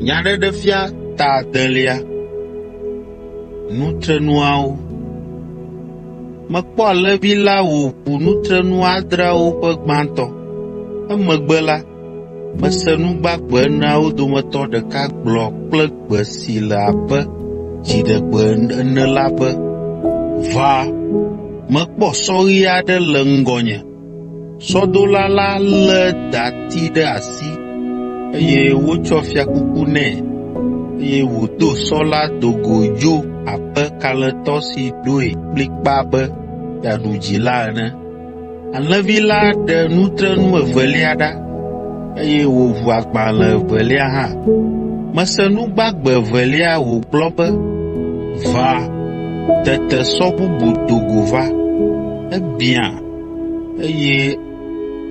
Nyaɖeɖefia ta adelia. Nutrenuawo. Mekpɔ alẽvi la wòʋu nutrenu adreawo ƒe gbãtɔ. Emegbe la, mese nu gbagbe eneawo dometɔ ɖeka gblɔ kple gbe si le abe dziɖegbe ene la be, “Va!” Mekpɔ sɔɣi aɖe le ŋgɔnye, Sɔdola la lé dati ɖe asi, eye wotsɔ fiakuku nɛ, eye wòdo sɔ la do go dzo abe kalẽtɔ si ɖoe kplikpaa be yeaɖu dzi la ene. Alẽvi la ɖe nutrenu evelia ɖa, eye wòʋu agbalẽ evelia hã. Mese nu gbagbe evelia wògblɔ be, “Va!” Tete sɔ bubu do go va. Ebiã eye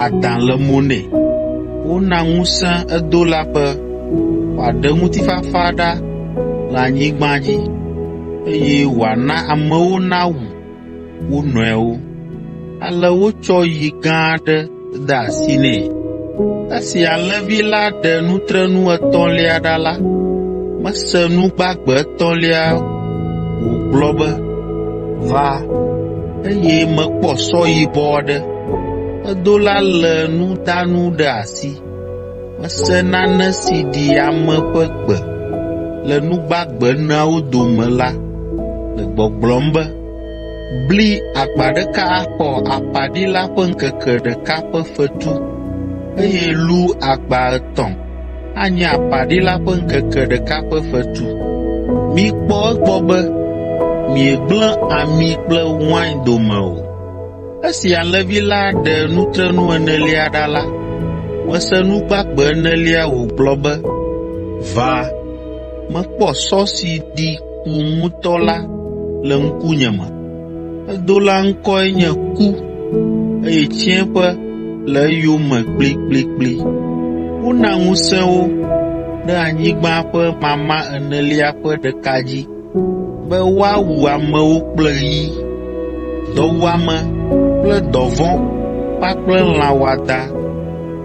adã le mo nɛ. Wona ŋusẽ edola be wòaɖe ŋutifafa ɖa le anyigba dzi, eye wòana amewo nawu wo nɔewo. Ale wotsɔ yi gã aɖe de asi nɛ. Esi alẽvi la ɖe nutrenu etɔ̃lia ɖa la, mese nu gbagbe etɔ̃lia wògblɔ be, “Va!” eye mekpɔ sɔ yibɔ aɖe. Edola lé nudanu ɖe asi. Mese nane si ɖi ame ƒe gbe le nu gbagbe eneawo dome la le gbɔgblɔm be, “Bli akpa ɖeka axɔ aƒaɖila ƒe ŋkeke ɖeka ƒe fetu, eye lu akpa etɔ̃.” anye apaɖila ƒe ŋkeke ɖeka ƒe fetu. Mikpɔ egbɔ be miegblẽ ami kple wain dome o. Esi alẽvi la ɖe nutrenu enelia ɖa la, mese nu gbagbe enelia wògblɔ be, “Va!” Mekpɔ sɔ si ɖi ku ŋutɔ la le ŋkunye me. Edola ŋkɔe nye Ku, eye tsiẽƒe le eyome kplikplikpli. Wona ŋusẽ wo ɖe anyigba ƒe mama enelia ƒe ɖeka dzi be woawu amewo kple yi, dɔwuame kple dɔvɔ̃ kpakple lã wɔadã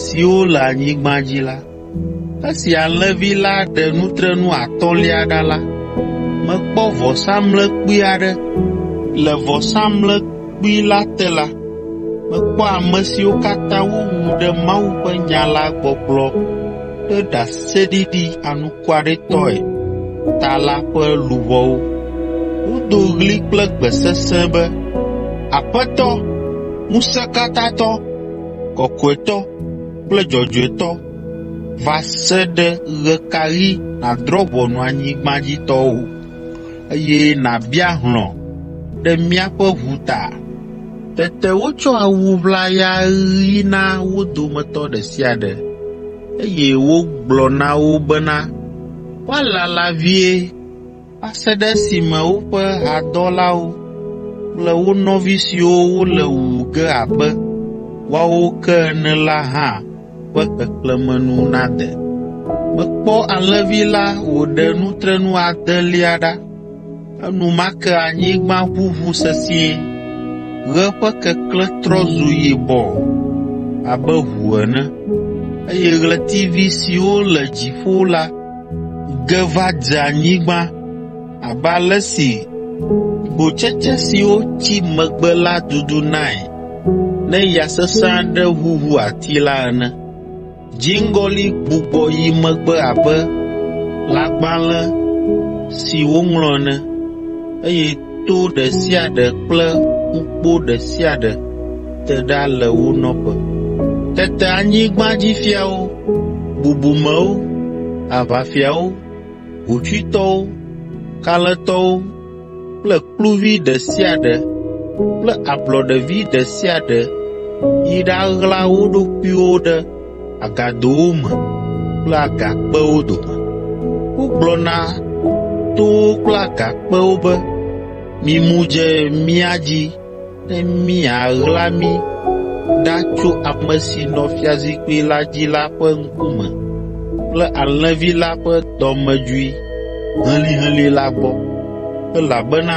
siwo le anyigba dzi la. Esi alẽvi la ɖe nutrenu atɔ̃lia ɖa la, mekpɔ vɔsamlekpui aɖe. Le vɔsamlekpui la te la, mekpɔ ame siwo katã wowu ɖe Mawu ƒe nya la gbɔgblɔ kple ɖaseɖiɖi anukwaretɔe ta la ƒe luʋɔwo. Wodo ɣli kple gbe sesẽ be, “Aƒetɔ, Ŋusẽkatãtɔ, Kɔkɔetɔ, kple dzɔdzɔetɔ va se ɖe ɣe ka ɣi nàdrɔ̃ ʋɔnu anyigba dzi tɔwo, eye nàbia hlɔ̃ ɖe míaƒe ʋu ta. Tete wotsɔ awu ʋlaya ɣi na wo dometɔ ɖe sia ɖe, eye wogblɔ na wo bena woalala vie. va se ɖe esime woƒe hadɔlawo kple wo nɔvi siwo wole wu ge abe woawo ke ene la hã ƒe xexlẽme nu nade. Mekpɔ alẽvi la wòɖe nutrenu adelia ɖa. Enumake anyigba ʋuʋu sesĩe, ɣe ƒe keklẽ trɔ zu yibɔ abe ʋu ene, eye ɣletivi siwo le dziƒo la ge va dze anyigba abe ale si gbotsetse siwo tsi megbe la dudunae ne ya sesẽ aɖe ʋuʋu ati la ene. Dziŋgɔli gbugbɔ yi megbe abe lãgbalẽ si woŋlɔ ene, eye to ɖe sia ɖe kple ƒukpo ɖe sia ɖe te ɖa le wo nɔƒe. Tete anyigbadzifiawo, bubumewo, aʋafiawo, hotsuitɔwo, kalẽtɔwo kple kluvi ɖe sia ɖe kple ablɔɖevi ɖe sia ɖe yi ɖaɣla wo ɖokuiwo ɖe agadowo me kple agakpewo dome. Wogblɔ na towo kple agakpewo be, ‘Mimu dze mía dzi ne miaɣla mí ɖa tso ame si nɔ fiazikpui la dzi la ƒe ŋkume kple alẽvi la ƒe dɔmedzoe helĩhelĩ la gbɔ, elabena